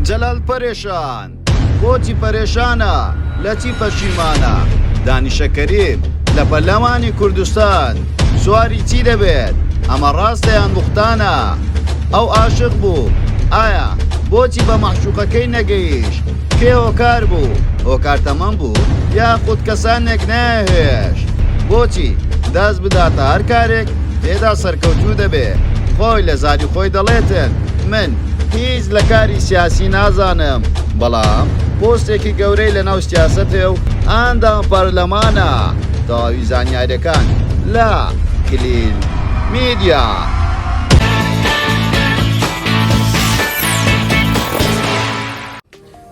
جەلال پەرێشان، بۆچی پەرێشانە، لە چی پەشیمانە؟ دانیشە کەریم، لە پەرلەمانی کوردستان سواری چی دەبێت، ئەمە ڕاستە یان بوختانە؟ ئەو ئاشق بوو، ئایا بۆچی بە مەعشوقەکەی نەگەیشت؟ کێ هۆکار بوو، هۆکار تەمەن بوو یاخود کەسانێک نەیانهێشت بۆچی دەست بداتە هەر کارێک تێدا سەرکەوتوو دەبێت، خۆی لە زاری خۆی دەڵێتن من. هیچ لە کاری سیاسی نازانم بەڵام پۆستێکی گەورەی لە ناو سیاسەتێ و ئاندام پەرلەمانە تەواوی زانیارەکان لە کلیل میدیا.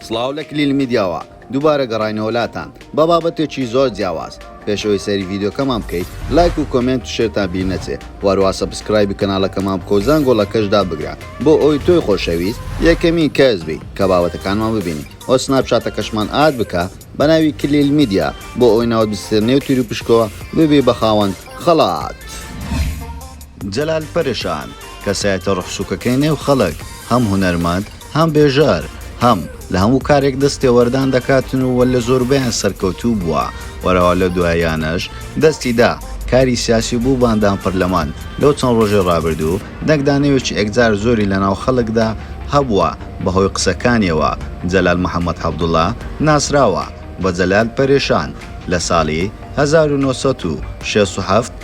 سڵاو لە کلیل میدیاوە دووبارە گەڕاینەوە لاتان بە بابەتێکی زۆر جیاواز، پێش ئەوەی سەیری ڤیدیۆکەمان بکەیت لایک و کۆمێنت و شێرتان بیر نەچێ و هەروەها سەبسکرایبی کەناڵەکەمان بکە و زەنگۆڵەکەش دابگرە بۆ ئەوەی تۆی خۆشەویست یەکەمین کەس بیت کە بابەتەکانمان ببینیت و سناپچاتەکەشمان ئاد بکە بە ناوی کلیل میدیا بۆ ئەوەی ناوت بچێتە نێو تیروپشکەوە ببی بە خاوەن خەڵات. جەلال پەرشان، کەسایەتە ڕوحسوکەکەی نێو خەڵک، هەم هونەرمەند، هەم بێژەر، هەم، لە هەموو کارێک دەست تێوەردان دەکاتن و لە زۆربەیان سەرکەوتوو بووە و رەوا لەو دواییانەش دەستی دا کاری سیاسی بوو بە ئەندام پەرلەمان لەو چەند ڕۆژەی ڕابردوو دەنگدانەوێکی ئێکجار زۆری لە ناو خەڵکدا هەبووە بە هۆی قسەکانیەوە جەلال محەمەد حەبدوڵا ناسراوە بە جەلال پەرشان لە ساڵی هەزار و نۆ سەد و شەست و هەفت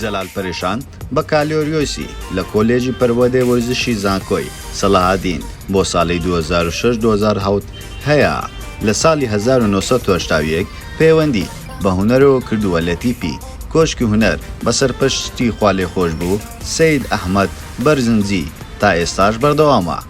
جەلال پەریشان، بەکالۆریۆسی لە کۆلێژی پەروەردەی وەرزشی زانکۆی، سەلاحەدین، بۆ ساڵی دوو هەزار و شەش دوو هەزار و حەوت هەیە، لە ساڵی هەزار و نۆ سەد و هەشتا و یەک پەیوەندی بە هونەرەوە کردووە لە تیپی، کۆشکی هونەر، بە سەرپەرشتی خوالێخۆشبوو سەید ئەحمەد بەرزنجی، تا ئێستاش بەردەوامە.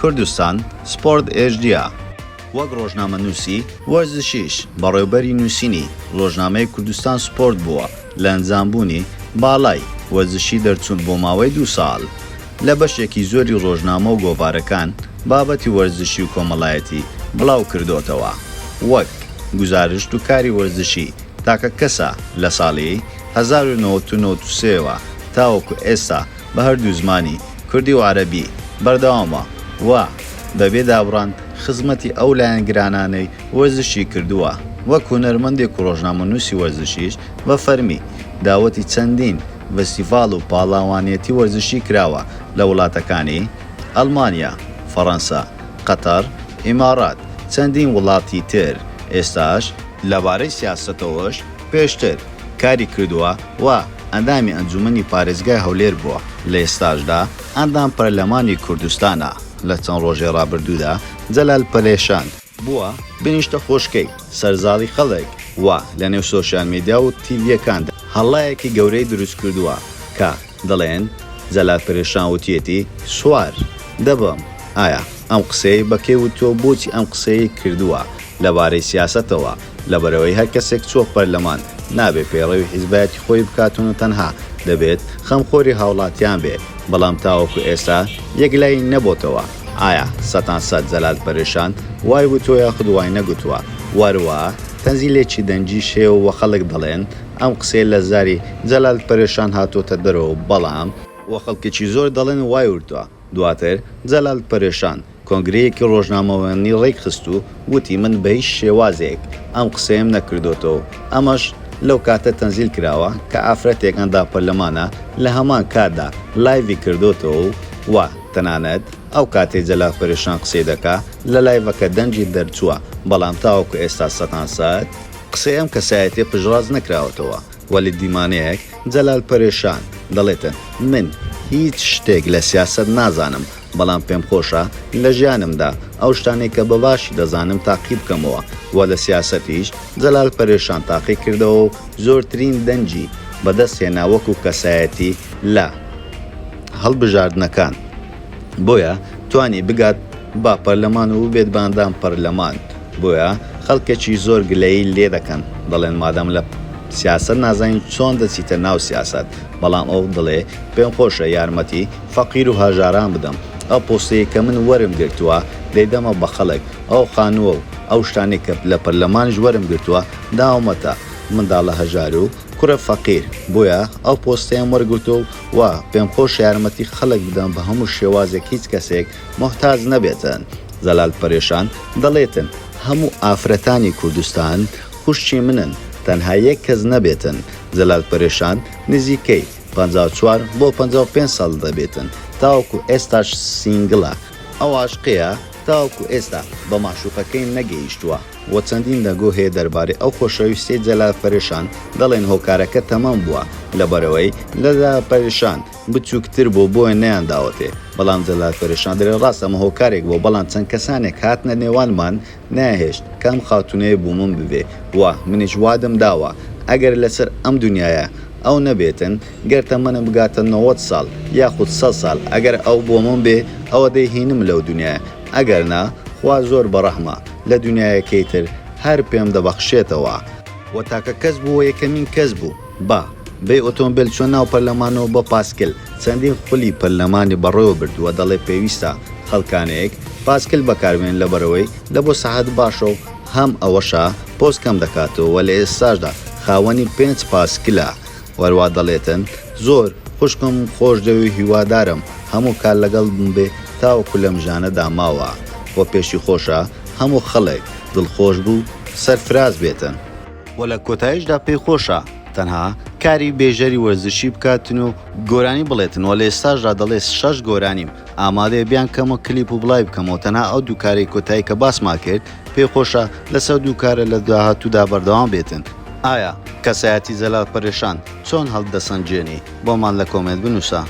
کوردستان سپۆرت ئێجدیا، وەک ڕۆژنامەنووسی وەرزشیش بەڕێوبەری نووسینی ڕۆژنامەی کوردستان سپۆرت بووە لە ئەنجامبوونی باڵای وەرزشی دەرچوون بۆ ماوەی دوو ساڵ لە بەشێکی زۆری ڕۆژنامە و گۆڤارەکان بابەتی وەرزشی و کۆمەڵایەتی بڵاوکردۆتەوە وەک گوزارشت و کاری وەرزشی تاکەکەسە لە ساڵی هەزار و نۆ سەد و نەوەد و سێ وە تاوەکو ئێستا بە هەردوو زمانی، کوردی و عەرەبی، بەردەوامە و بەبێ دابڕان خزمەتی ئەو لایەنگرانانەی وەرزشی کردووە، وەک هونەرمەندێک و ڕۆژنامەنووسی وەرزشیش بە فەرمی داوەتی چەندین ڤستیڤاڵ و پاڵاوانێتی وەرزشی کراوە لە وڵاتەکانی، ئەڵمانیا، فەڕەنسا، قەتەڕ، ئیماڕات، چەندین وڵاتی تر، ئێستاش. لەبارەی سیاسەتەوەش پێشتر کاری کردووە و ئەندامی ئەنجوومەنی پارێزگای هەولێر بووە، لە ئێستاشدا ئەندام پەرلەمانی کوردستانە، لە چەند ڕۆژی ڕابردوودا جەلال پەرێشان، بووە بە نیشتە خۆشکەی سەر زاڵی خەڵک و لە نێو سۆشیال میدیا و تیڤییەکاندا هەڵایەکی گەورەی دروست کردووە کە دەڵێن جەلال پەرێشان وتیەتی سوار دەبم ئایا ئەم قسەیەی بە کێ وتووە و بۆچی ئەم قسەیەی کردووە لە بارەی سیاسەتەوە لەبەرئەوەی هەر کەسێک چووە پەرلەمان نابێت پەیڕەوی حیزبایەتی خۆی بکات و تەنها دەبێت خەمخۆری هاوڵاتیان بێت بەڵام تاوەکو ئێستا یەکلایی نەبۆتەوە ئایا سەتان سەت جەلال پەرێشان وای وتووە یاخود وای نەگوتووە وەروا تەنزیلێکی دەنگیش هەیە و خەڵک دەڵێن ئەم قسەیە لە زاری جەلال پەرێشان هاتووەتە دەرەوە و بەڵام. و خەڵکێکی زۆر دەڵێن وای وتووە. دواتر جەلال پەرێشان کۆنگرەیەکی ڕۆژنامەوانی ڕێک خست و وتی من بە هیچ شێوازێک ئەم قسەیەم نەکردۆتەوە و ئەمەش لەو کاتە تەنزیل کراوە کە ئافرەتێک ئەندام پەرلەمانە لە هەمان کاتدا لایڤی کردۆتەوە و و تەنانەت ئەو کاتەی جەلال پەرێشان قسەی دەکا لە لایڤەکە دەنگی دەرچووە بەڵام تاوەکو ئێستا سەتان سەت قسەی ئەم کەسایەتیە پشتڕاست نەکراوەتەوە و لە دیمانەیەک، جەلال پەرێشان، دەڵێتن، من هیچ شتێک لە سیاسەت نازانم، بەڵام پێمخۆشە لە ژیانمدا ئەو شتانەی کە بە باشی دەزانم تاقی بکەمەوە و لە سیاسەتیش جەلال پەرێشان تاقی کردەوە و زۆرترین دەنگی بەدەست هێنا وەکو کەسایەتی لە هەڵبژاردنەکان بۆیە توانی بگات با پەرلەمان وبێت بە ئەندام پەرلەمان بۆیە خەڵکەکی زۆر گلەیی لێ دەکەن دەڵێن مادام لە سیاسەت نازانیت چۆن دەچیتە ناو سیاسەت بەڵام ئەو دڵێ پێم خۆشە یارمەتی فەقیر و هەژاران بدەم ئەو پۆستەی کە من وەرم گرتووە دەیدەمە بە خەڵک ئەو خانووە و ئەو شتانەی کە لە پەرلەمانیش وەرم گرتووە داومەتە منداڵە هەژار و کوڕە فەقیر بۆیە ئەو پۆستەیەم وەرگرتووە و پێم خۆشە یارمەتی خەڵک بدەم بە هەموو شێوازێک هیچ کەسێک موحتاج نەبێتن زەلال پەرێشان دەڵێتن هەموو ئافرەتانی کوردستان خوشکی منن تەنها یەک کەس نەبێتن زەلال پەرێشان نزیکەی پەنجا و چوار بۆ پەنجا و پێنج ساڵ دەبێتن تاوەکو ئێستاش سینگلە ئەو عاشقەیە تاوەکو ئێستا بە مەعشوقەکەی نەگەیشتووە وە چەندین دەنگۆ هەیە دەربارەی ئەو خۆشەویستیەی جەلال پەرێشان دەڵێن هۆکارەکە تەمەن بووە لەبەرئەوەی جەلال پەرێشان بچوکتر بوو بۆیە نەیانداوەتێ بەڵام جەلال فەرەشان دەلێ ڕاست ئەمە هۆکارێک بوو بەڵام چەند کەسانێک هاتنە نێوانمان نەیهێشت کە ئەم خاتونەیە بومم ببێ وە منیش وادم داوە ئەگەر لەسەر ئەم دونیایە ئەو نەبێتن گەر تەمەنم بگاتە نەوەد ساڵ یاخود سەد ساڵ ئەگەر ئەو بۆمم بێ ئەوە دەیهینم لەو دونیایە ئەگەر نا خوا زۆر بەڕەحمە لە دونیایەکەی تر هەر پێم دەبەخشێتەوە وە تاکە کەس بوو وە یەکەمین کەس بوو. با بێ ئۆتۆمبێل چوە ناو پەرلەمانەوە بۆ پاسکل چەندین خولی پەرلەمانی بەڕێوە برد وە دەڵێ پێویستە خەڵکانێک پاسکل بەکاربێنن لەبەرئەوەی لە بۆ سەحەت باشە و هەم ئەوەشە پۆز کەم دەکاتەوە وە لە ئێستاشدا خاوەنی پێنج پاسکلە وەروا دەڵێتن زۆر خوشکم خۆشدەوێ هیوادارم هەموو کات لەگەڵت بمبێ تاوەکو لەم ژیانەدا ماوە وە پێشی خۆشە هەموو خەڵک دڵخۆش بوو سەرفراز بێتن. وە لە کۆتایشدا پێی خۆشە تەنها کاری بێژەری وەرزشی بکاتن و گۆرانی بڵێتن وە لە ئێستاشدا دەڵێت شەش گۆرانیم ئامادەیە بیانکەمەوە کلیپ و بڵاوی بکەمەوە تەنها ئەو دوو کارەی کۆتایی کە باسمان کرد پێی خۆشە لەسەر دوو کارە لە داهاتوودا بەردەوام بێتن. ئایا کەسایەتی جەلال پەرێشان چۆن هەڵدەسەنگێنی؟ بۆمان لە کۆمێنت بنووسە.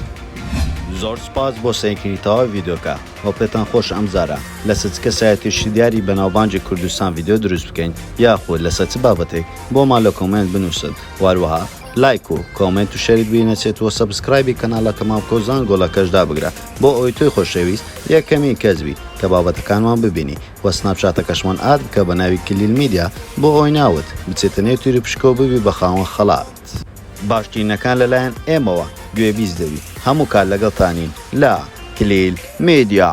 زۆر سوپاس بۆ سەیرکردنی تەواوی ڤیدیۆکە. ئەو پێتان خۆشە ئەم جارە لەسە چ کەسایەتی شیدیاری بەناوبانگی کوردستان ڤیدیۆ دروست بکەین یاخود لەسە چ بابەتێک بۆمان لە کۆمێنت بنوسن وەروەها لایک و کۆمێنت و شەرت بیر نەچێت وە سەبسکرایبی کەنالە تەمام بکە و زانگۆڵەکەش دابگرە بۆ ئەوەی تۆی خۆشەویست یەکەمین کەس بیت کە بابەتەکانمان ببینی وە سناپچاتەکەشمان ئاد بکە بە ناوی کلیل میدیا بۆ ئەوەی ناوت بچێتە نێو تیروپشکەو ببی بە خاوەن خەڵات. دەکات. باشترینەکان لەلایەن ئێمەوە گوێبیست دەبی هەموو کات لەگەڵتانین لە کلیل میدیا.